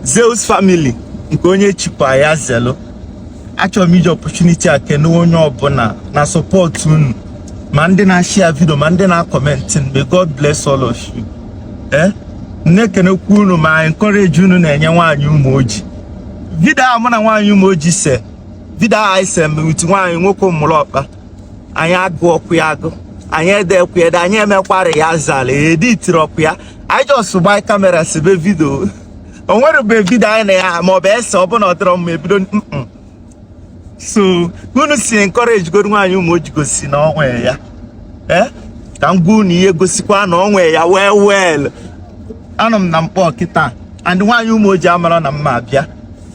Zeus family nke onye chikwa ya zelu achọrọ m iji opportunity a kene onye ọbụla na support unu ma ndị na-ashare video ma ndị na-acomment may God bless all of you ee eh? na-ekenekwu unu ma encourage unu na-enye Nwaanyị Umuoji video a mụ na Nwaanyị Umuoji se video a anyị se with nwaanyị nwoke Ụmụlọkpa anyị agụrọkwa ya agụ anyị ederọkwa ya ede anyị emekwarọ rehearsal editirọkwa ya anyị just gba camera sebe video o nwerọbe video anyị na ya ma ọ bụ ese ọ bụ na ọ dịrọ mma ebido so unu si encourage goro Nwaanyị Umuoji gosi na o nwe ya eh? ka m gwa unu ihe gosikwa na o nwe ya well well anọ m na Nkpor kịta and Nwaanyị Umuoji amarọ na m na-abịa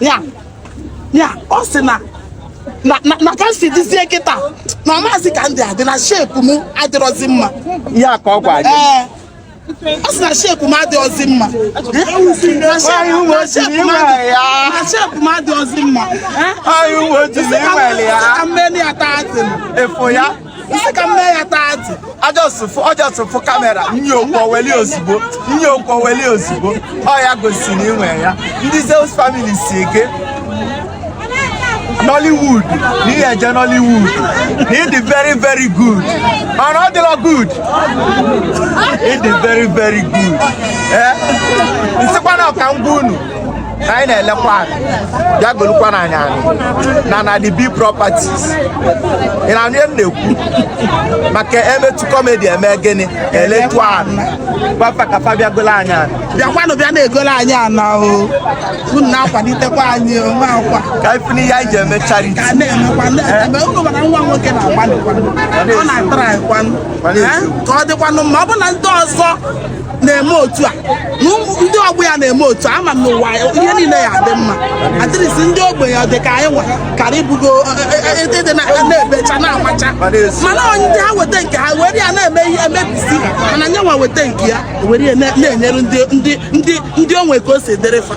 ya ya ọ sị na na ka m si dịzie kịta na ọ mazị ka m dị adị na shape m adịrọzi mma ya ka ọ gwa gị ọ sị na shape m adịrọzi mma na shape m adịrọzi mma m mee ya tight ị sị ka m mee ya tight a just fụ ọ just fụ camera nya ekwuweli ozugbo nya ekwuweli ozugbo ọ ya gosi na i nwe ya ndị Zeus family sị i jee Nollywood na ị ya-eje Nollywood na ịdị very very good mana ọ dịrọ good ịdị very very good ee m sịkwanụ ka m gwa unu na anyị na-elekwa ana bịa golukwanụ anyị ana na the big properties ị na-anụ ihe m na-ekwu maka emetu comedy eme gịnị eletu ana gwa fa ka fa bịa golo anyị ana bịakwanụ bịa na-egolo anyị ana o unu na-akwalitekwa anyị o nwa akwa ka anyị fụ na ihe anyị ji eme charity ka a na-emekwa na-eme unu ma na nwa nwoke na-agbalịkwanụ ọ na-atrykwanụ Eh? ka ọ dịkwanụ mma ọ bụ na ndị ọzọ na-eme otu a ndị ọgbọ ya na-eme otu a ama m n'ụwa ihe niile ya-adị mma adịrịsị ndị ogbenye ọ dị ka anyị nwa kara ibugo ede e, e, e, na-ebecha na-amacha mana o nwe ndị ha weta nke ha were ya na-eme ihe emebisi mana nya nwa weta nke ya were ya na-enyere ndị o nwe ka o si dịrị fa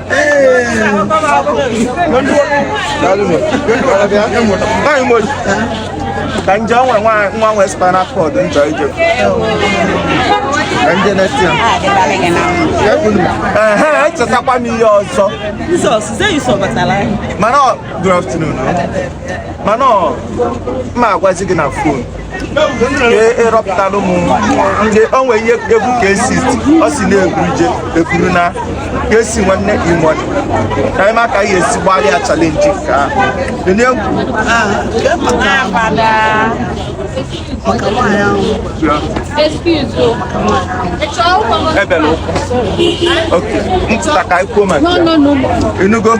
ka m jee o nwe nwa nwe spinal cord injury ka m jee neta ya ehe echetakwa m ihe ọzọ mana good afternoon mana m ya-agwazi gị na phone ị rọpụtara mụ ndị o nwere ihe egwu ka esi ọ si na-eburu je eburu na ka esi nwanne imoni ka anyị ma ka e si gbalịa challenge nke ahụ enye egwu maka nwaanyị ahụ ebele ụkwụ oke ntụta ka anyị kwuo maka ya ị nụgo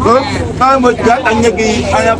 o na-enweghị aka nye gị anya